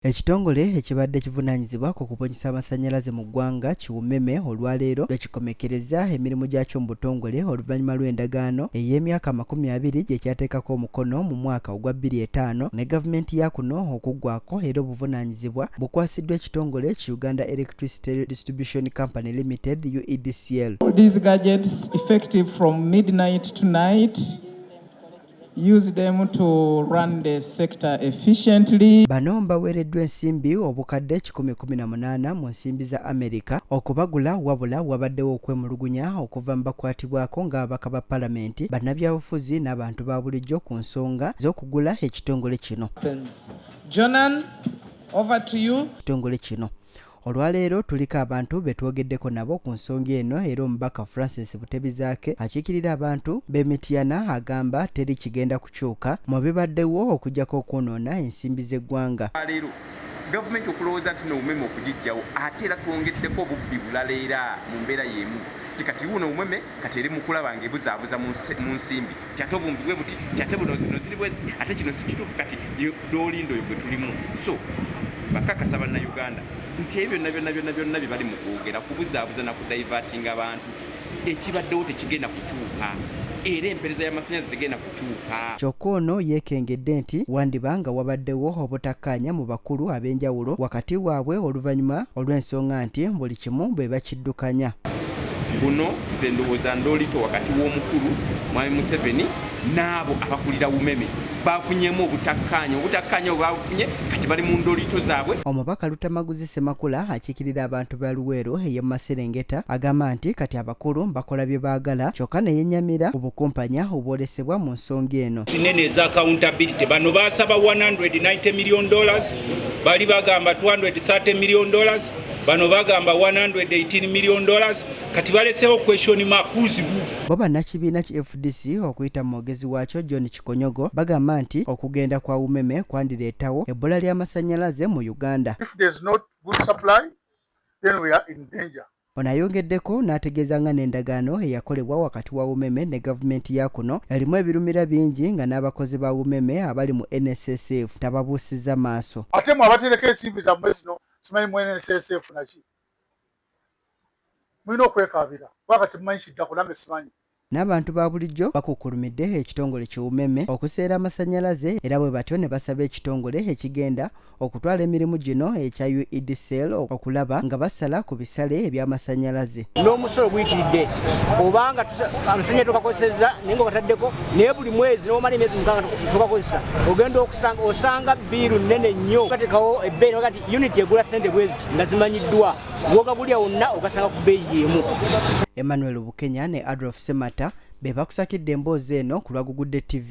Ekitongole ekibadde kivunaanyizibwa ku kubunyisa amasannyalaze mu ggwanga ki UMEME olwaleero lwekikomekkerezza emirimu gyakyo mu butongole oluvannyuma lw'endagaano ey'emyaka amakumi abiri gye kyateekako omukono mu mwaka ogwa bbiri etaano ne gavumenti ya kuno okuggwako era obuvunaanyizibwa bukwasiddwa ekitongole ki Uganda Electricity Distribution Company Limited UEDCL. These gadgets effective from midnight tonight. Use them to run the sector efficiently. Bano mbaweereddwa ensimbi obukadde kikumi kumi na munaana mu nsimbi za Amerika okubagula wabula wabaddewo okwemulugunya okuva mu bakwatibwako ng'ababaka ba palamenti bannabyabufuzi n'abantu ba bulijjo ku nsonga z'okugula ekitongole kino. Jonan, over to you. Ekitongole kino. Olwaleero tuliko abantu be twogeddeko nabo ku nsonga eno era omubaka Francis Butebizaake akiikirira abantu b'e Mityana agamba teri kigenda kukyuka mu bibaddewo okujjako okwonoona ensimbi z'eggwanga. Leero gavumenti okulowooza nti n'omumeme okugiggyawo ate era twongeddeko obubbi bulala era mu mbeera y'emu nti kati wuuno omumeme kati eri mu kulaba ng'ebuzaabuza mu nsimbi. kyate obumbi bwe buti kyate buno zino ziri bweziti ate kino sikituufu kati dolindo oyo gwe tulimu so bakakasa bannayuganda nti ebyo byonna byonna byonna byonna bye bali mu kwogera kubuzaabuza na kudivatinga abantu ekibaddewo tekigenda kukyuka era empereza y'amasannyalaze tegenda kukyuka kyokka ono yeekengedde nti wandiba nga wabaddewo obutakkaanya mu bakulu ab'enjawulo wakati waabwe oluvannyuma olw'ensonga nti buli kimu bwe bakiri abaddukanya. Buno nze ndowooza ndoolito wakati w'omukulu Mwami Museveni n'abo abakulira Umeme baafunyemu obutakkaanya obutakkaanya bwe baabufunye kati bali mu ndoolito zaabwe. Omubaka Lutamaguzi Ssemakula akiikirira abantu ba Luweero ey'e Maserengeta agamba nti kati abakulu bakola bye baagala kyokka ne yennyamira ku bukumpanya obwolesebwa mu nsonga eno. Sinene eza accountability bano baasaba 190 million dollars bali bagamba 230 million dollars bano bagamba 118 million dollars kati balesewo question mark kuzibu bo bannakibiina ki fdc okuyita mu mwogezi waakyo john kikonyogo bagamba nti okugenda kwa umeme kwandireetawo ebbula ly'amasannyalaze mu uganda If there's not good supply, then we are in danger. ono ayongeddeko n'ategeeza nga n'endagaano eyakolebwa wakati wa umeme ne gavumenti ya kuno erimu ebirumira bingi nga n'abakozi ba umeme abali mu nssf tababuusizza maaso ate mwe abatereka ensimbi zammwe zino simanyi mu NSS efuna ki mulina okwekaabira kuba kati mumanyi kiddako nange simanyi N'abantu ba bulijjo bakukkulumidde ekitongole ki umeme okuseera amasannyalaze era bwe batyo ne basaba ekitongole ekigenda okutwala emirimu gino ekya UEDCL okulaba nga basala ku bisale eby'amasannyalaze. n'omusolo guyitiridde obanga amasanya tukakozeseza naye nga bataddeko naye buli mwezi newomala emyezi mukanga tukakozesa ogenda okusanga osanga biiru nene nnyo gatekawo ebbeeyi naga ti uniti egula sente bweziti nga zimanyiddwa gwogagulya wonna ogasanga ku bbeeyi yeemu emmanuel bukenya ne adolf semata be bakusakidde emboozi eno ku lwagugudde tv